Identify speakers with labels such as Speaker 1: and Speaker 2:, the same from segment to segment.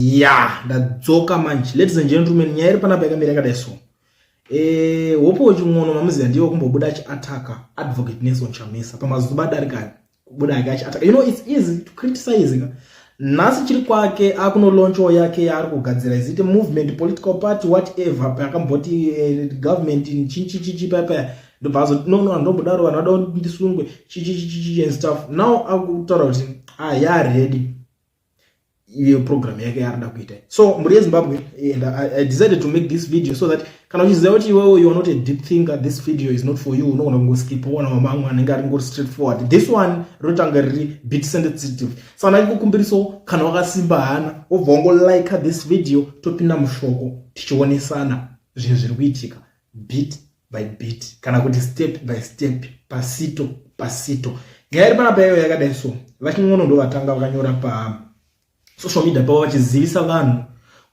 Speaker 1: ya ndadzoka manje ladies and gentlemen nyaya iri panapa yakamira yakadai so eh hope wechimwono mamuziva ndiwo kumbobuda achiataka advocate nelson chamisa pamazuva adarika kubuda ake achiataka you know it's easy to criticize ka nhasi chiri kwake akunolonchawo yake yaari kugadzira izite movement political party whatever paakamboti eh, government chichichichi payapaya ndobva azo no no andombodaro vanhu vada ndisungwe chichichichichi and stuff now akutaura kuti ah yaready iyo program yake yaarida kuita so mburi yezimbabwe and I, i decided to make this video so that kana uchiziva kuti iwewe you are not a deep thinker this video is not for you unogona kungoskip ona mamamwe anenge ari ngori straight forward this one rinotanga riri bit sensitive so ana ikukumbiriso kana wakasimba hana wobva wangolike this video topinda mushoko tichionesana zvinhu zviri kuitika bit by bit kana kuti step by step pasito pasito nyaya iri panapa yayo yakadai so vachingono ndo vatanga vakanyora pa social media pavo vachizivisa vanhu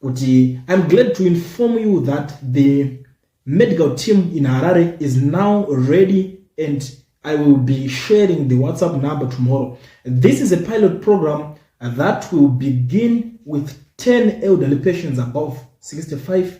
Speaker 1: kuti im glad to inform you that the medical team in harare is now ready and i will be sharing the whatsapp number tomorrow this is a pilot program that will begin with 10 elderly patients above 65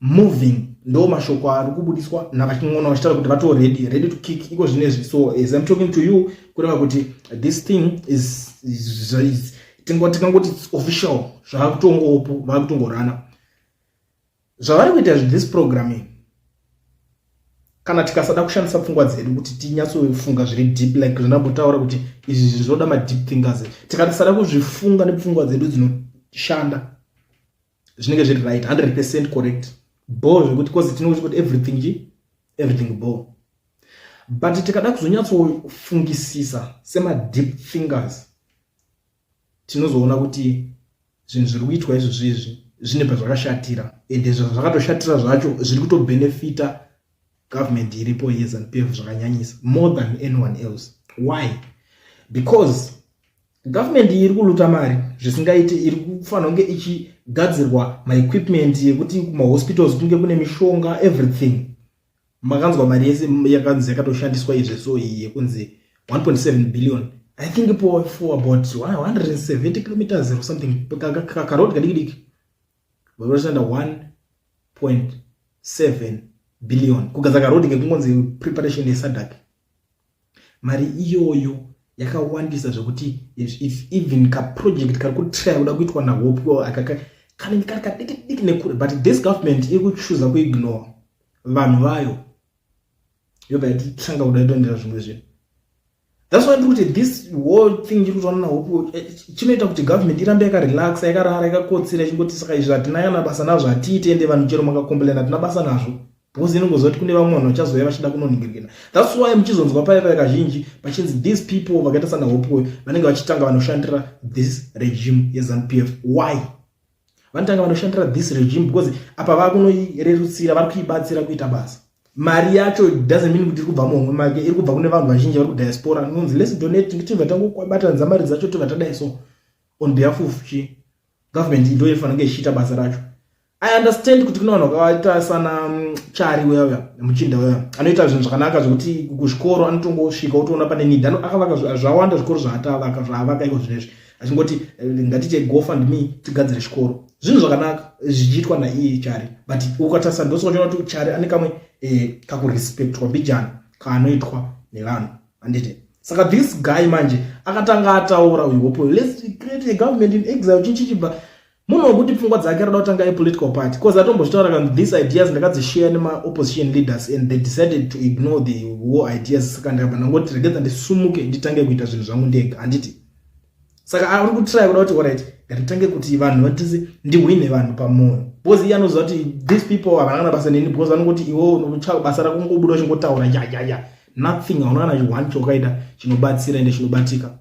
Speaker 1: moving ndo mashoko ari kubudiswa navachin'ona vachitaura kuti vato ready ready to kick iko zvine izvi so as im talking to you kureva kuti this thing is, is, is tingangoti its official zvava kutongopo vava kutongorana zvavari kuita this programming kana tikasada kushandisa pfungwa dzedu kuti tinyatsofunga zviri deep like zvinambotaura kuti izvi zvinoda madeep thinkers tikatisada kuzvifunga nepfungwa dzedu dzinoshanda zvinenge zviri right 100 percent correct bo zvekuti cause tinongoita kuti everything chi everything bo but tikada kuzonyatsofungisisa semadeep fingers tinozoona kuti zvinhu zviri kuitwa izvo zvezvi zvine pazvakashatira ende zvakatoshatira zvacho zviri kutobhenefita government iripo yezanu p f zvakanyanyisa more than anyone else why because government iri kuluta mari zvisingaite iri kufanira kunge ichigadzirwa maequipment yekuti kumahospitals kunge kune mishonga everything makanzwa mari yese yakanzi yakatoshandiswa izve so iyi yekunzi 1.7 billion i think for, for about 170 kilometers or something kakarod kadikidiki vanoshanda 1.7 billion kugadzira karod ngekungonzi preparation yesadak mari iyoyo yakawandisa zvekuti if even kaproject kari kutraya kuda kuitwa nahope akaka kanenge kari kadiki diki nekure but this government iri kuchuza kuignore vanhu vayo yobva yatitanga kuda itoendera zvimwe zvinhu thats why ndikuti this whole thing chiri kutaona nahope eh, chinoita kuti government irambe yakarelaxa yakarara yakakotsira ichingoti saka izvi hatina kana basa nazvo hatiite ende vanhu chero makacomplain hatina basa nazvo because inongoziva kuti kune vamwe vanhu vachazouya vachida kunoningirikina thats why muchizonzwa paye paye kazhinji pachinzi these people vakaita sana hopuwe vanenge vachitanga vanoshandira this regime yezanup f why vanotanga vanoshandira this regime because apa vava kunoirerutsira vari kuibatsira kuita basa mari yacho doesn't mean kuti iri kubva muhomwe make iri kubva kune vanhu vazhinji vari kudiaspora nonzi less donate nditi vatangobatanidza mari dzacho tobva tadai so on behalf of chi government ndo ifanira kunge ichiita basa racho i understand kuti kune vanhu vakaita sana mm, chari weya muchinda weya anoita zvinhu zvakanaka zvekuti kuzvikoro anotongosvika otoona pane nid akavaka zvawanda zvikoro zvaatavaka zvaavaka iko zvinezvi achingoti eh, ngatiite gofund me tigadzire chikoro zvinhu zvakanaka zvichiitwa naiye chari but ukatarisa ndosokachiona kuti chari ane kamwe eh, kakurespectwa mbijana kaanoitwa nevanhu handiti saka this guy manje akatanga ataura uyu hopo lets create a government in exile chinchichibva munhu wekuti pfungwa dzake anoda kutanga yepolitical party because atombozvitaura kanzi these ideas ndakadzishare nemaopposition leaders and they decided to ignore the war ideas saka ndakabva ndangoti regedza ndisumuke nditange kuita zvinhu zvangu ndega handiti saka ari kutraya kuda kuti orit ngatitange kuti vanhu vatise ndihwine vanhu pamwoyo because iye anoziva kuti these people havana kana basa neni because vanongoti iwo unotsvaka basa rako ngobuda uchingotaura yayaya nothing hauna kana chione chokaita chinobatsira ende chinobatika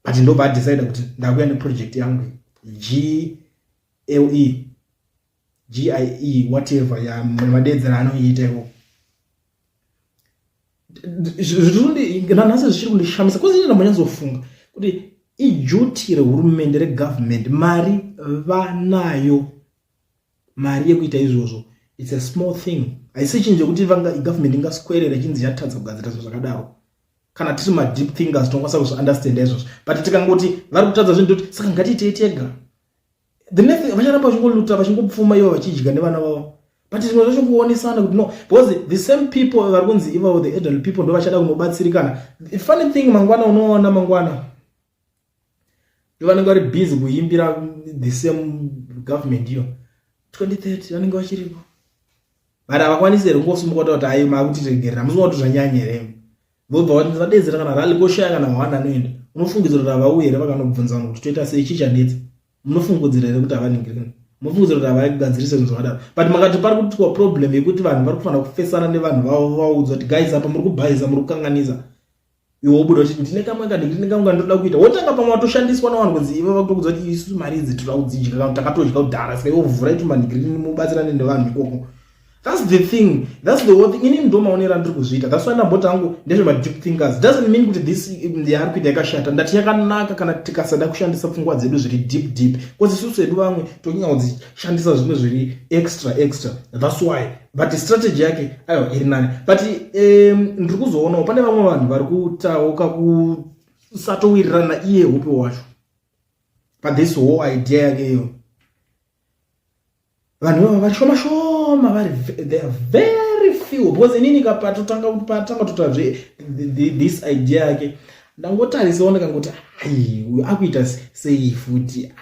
Speaker 1: but ndobva adecide kuti ndakuya neproject yangu gle gie whatever yamadeedzera anoiita ikoko zvirinanhasi zvichiri kundishamisa kozi ini ndambonyazofunga kuti ijuti rehurumende regovernment mari vanayo mari yekuita izvozvo its a small thing haisi chinhu chekuti government ingaswerera chinzi yatadza kugadzira zvinhu zvakadaro kana tiri madeep thinkers tinokwanisa kuzviunderstanda izvozvo but tikangoti vari kutadza zvinhu toti saka ngatiitei tega the next vacharamba vachingoluta vachingopfuma ivo vachidya nevana vavo but zvimwe zvacho kuonesana kuti no because the same people vari kunzi ivavo the adult people ndo vachada kunobatsirikana funny thing mangwana unoona mangwana ndovanenge vari busy kuimbira the same government iyo 2030 vanenge vachiripo but havakwanisi here kungosimuka kuti ayi maakutiregerera musinga kuti zvanyanya here vobva vati ndadedzera kana rali koshaya kana hwanda anoenda unofungidzira kuti havauye here vakanobvunza vanhu kuti toita sei chii chanetsa munofungudzira here kuti havaningirina munofungudzira kuti havagadzirise zvinhu zvakadaro but makati pari kuitwa problem yekuti vanhu vari kufanira kufesana nevanhu vavo vaudzwa kuti guys apa muri kubhaiza muri kukanganisa iwe wobuda uchiti ndine kamwe kadi ndine kamwe kandinoda kuita wotanga pamwe watoshandiswa navanhu kunzi ivo vakutokudza kuti isu mari idzi tinoda kudzidya kana takatodya kudhara saka ivo vhurai tumandigiri mubatsirane nevanhu ikoko thats the thing thats the thing inini ndo maonero andiri kuzviita thats why ndamboti angu ndezvemadeep thinkers doesn't mean kuti this yaari kuita yakashata ndati yakanaka kana tikasada kushandisa pfungwa dzedu zviri deep deep bcause isusu hedu vamwe tokinga kudzishandisa zvimwe zviri extra extra thats why but strategy yake ayo iri nani but um, ndiri kuzoonawo pane vamwe vanhu vari kutauka kusatowirirana iye hupi wacho but this whole idea yake iyo vanhu vava vari shoma shoma vari they are very few because inini kapatotanga patanga tota zve this idea yake ndangotarisawo ndakangoti ai uyu akuita sei futi ah.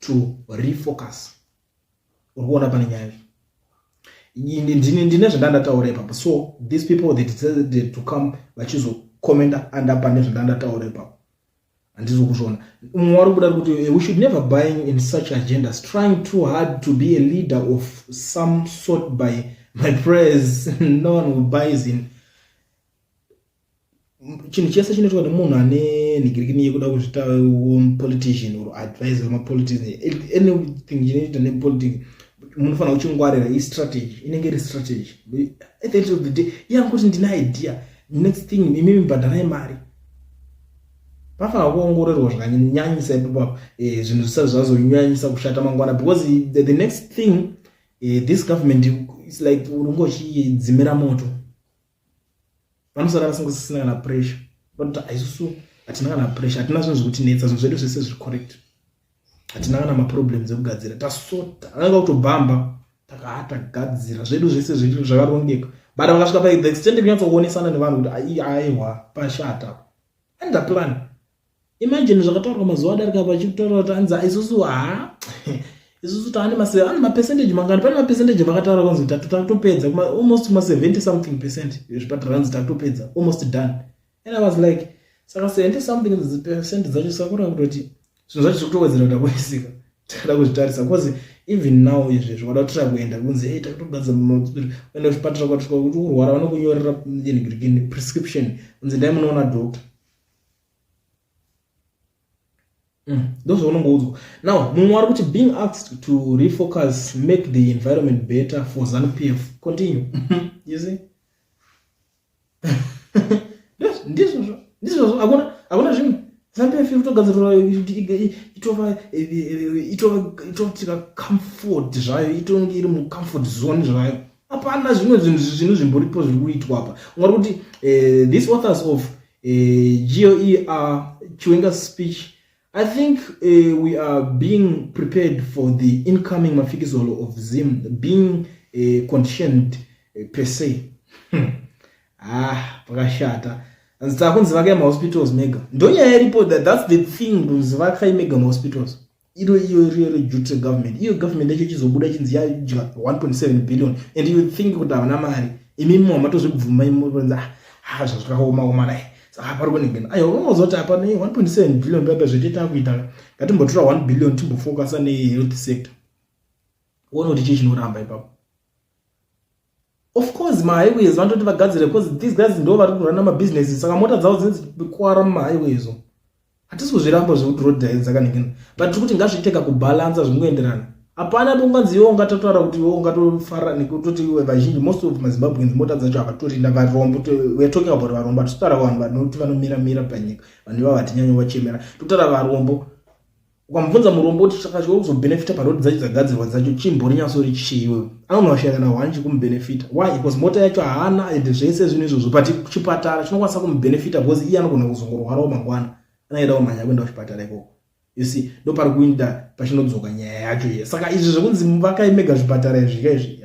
Speaker 1: to refocus uri kuona pane nyaya ndine ndine zvandandataura ipapo so these people they decided to come vachizocommenta anda pane zvandandataura ipapo handizo kuzviona umwe wari kuda kuti eh, we should never buying in such agendas trying too hard to be a leader of some sort by my prayers no one who buys in chinhu chese chinoitwa nemunhu ane nhigirikini yekuda kuzvita um, politician or advisor mapolitician anything chinoita nepolitics munofanira kuchingwarira istrategy inenge iri strategy at the end of the day iyangu kuti ndine idea next thing imi mibhadharai mari pafanira kuongororwa zvakanyanyisa ipapo eh, zvinhu zvisati zvazonyanyisa kushata mangwana because the next thing eh, this government is like unongochidzimira moto vanosara vasingosisina kana pressure vanoti aisusu hatina kana pressure hatina zvinhu zvekutinetsa zvinhu zvedu zvese zviri correct hatina kana maproblems ekugadzira tasota ananga kutobhamba takatagadzira zvedu zvese zviri zvakarongeka but vakasvika paithe extend kunyatsokuonesana nevanhu kuti aiwa pashata and the plan imagine zvakataurwa mazuva adarika apa chikutaura kuti anzi isusu ha isusu taane mase ane mapercentage mangani pane mapercentage vakataura kunzi tatu takutopedza almost kuma 70 something percent zvipatara anzi takutopedza almost done and i was like saka 70 something percent dzacho sakura kutoti zvinhu zvacho zvekutowedzera kuda kuisika takada kuzvitarisa bcause even now izvi zvakada kutira kuenda kunzi e takutogadzira maspiri kuenda kuzvipatara kwatika kuti urwara vanokunyorera prescription kunzi ndai munoona doctor Mm, those are no Now, Mumwaru, which being asked to refocus, make the environment better for ZANU PF. Continue. you see? yes, this was, this was, I want, I want to dream. ZANU PF, you talk as a, it over, it over, it over, it over, comfort, right? It over, it over, comfort zone, right? Apana, zvinhu zvinhu zvinhu zvimboripo zviri kuitwa apa. Ungakuti, uh, eh, these authors of eh, GOER Chiwenga's speech I think uh, we are being prepared for the incoming mafikizolo of Zim being uh, conditioned uh, per se. Hmm. Ah, pakashata. Nzita kunzi vakai mahospitals mega. Ndonyaya iripo that that's the thing kunzi vakai mega mahospitals. iro iyo iriyo reduty regovernment iyo government yacho ichizobuda chinzi yadya 1.7 billion and you think kuti havana mari imi mwa matozvibvuma imuonza ah, ha zvazvakaomaoma dai saka pari kunengena aiwa unozoti apa ne 1.7 billion paipa zvetiita kuita ngatimbotora 1 billion timbofocusa nehealth sector uone kuti chii chinoramba ipapo of course mahighways vanototi vagadzire because these guys ndo vari kurana mabusiness saka mota dzavo dzinenge dzichikwara mumahighways o hatisi kuzviramba zvekuti road dai dzakaningina but tiri kuti ngazviteka kubhalansa zvingoenderana hapana bonganzi iwo ungatotaura kuti iwo ungatofara nekutoti iwe vazhinji most of mazimbabweans mota dzacho havatorinda varombo weare talking about varombo hatitotaura vanhu vanoti vanomira mira panyika vanhu ivavo hatinyanya vachemera totaura varombo ukamubvunza murombo kuti saka chiwe kuzobenefita parod dzacho dzagadzirwa dzacho chimbori nyasori chiiwe anonoshaya kana hwani chikumubenefita why because mota yacho haana and zvese zvinhu izvozvo but chipatara chinokwanisa kumubenefita because iye anogona kuzongorwarawo mangwana anaida kumhanya kuenda kuchipatara ikoko you see ndopari kuinda pachinodzoka nyaya yacho iye saka izvi zvekunzi vakaimega zvipatara izvika izvi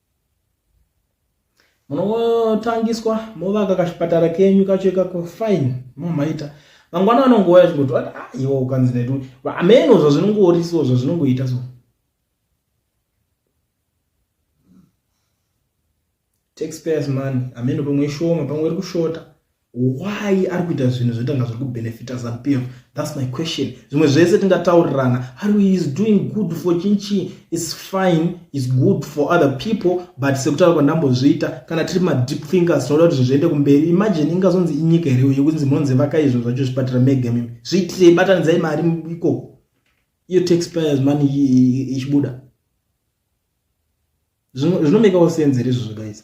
Speaker 1: munotangiswa movaka kachipatara kenyu kacho ikako fine momaita mangwana anongouya chingoti ati ah, iwo ukanzi netu ameno zvazvinongoorisiwo zvazvinongoita so taxpayers money ameno pamwe ishoma pamwe iri kushota why ari kuita zvinhu zvoita nga zviri kubenefita zanupf thats my question zvimwe zvese tingataurirana ari is doing good for chinchi is fine is good for other people but sekutaura kwandambozviita kana tiri madeep thinkers tinoda kuti zvinhu zviende kumberi imagine ingazonzi inyika here uye kunzi monzi vakai zvinhu zvacho zvipatira mega mimi zviitire ibatanidzai mari ikoko iyo taxpayers money ichibuda zvinomekawo senze rizvo zvakaisa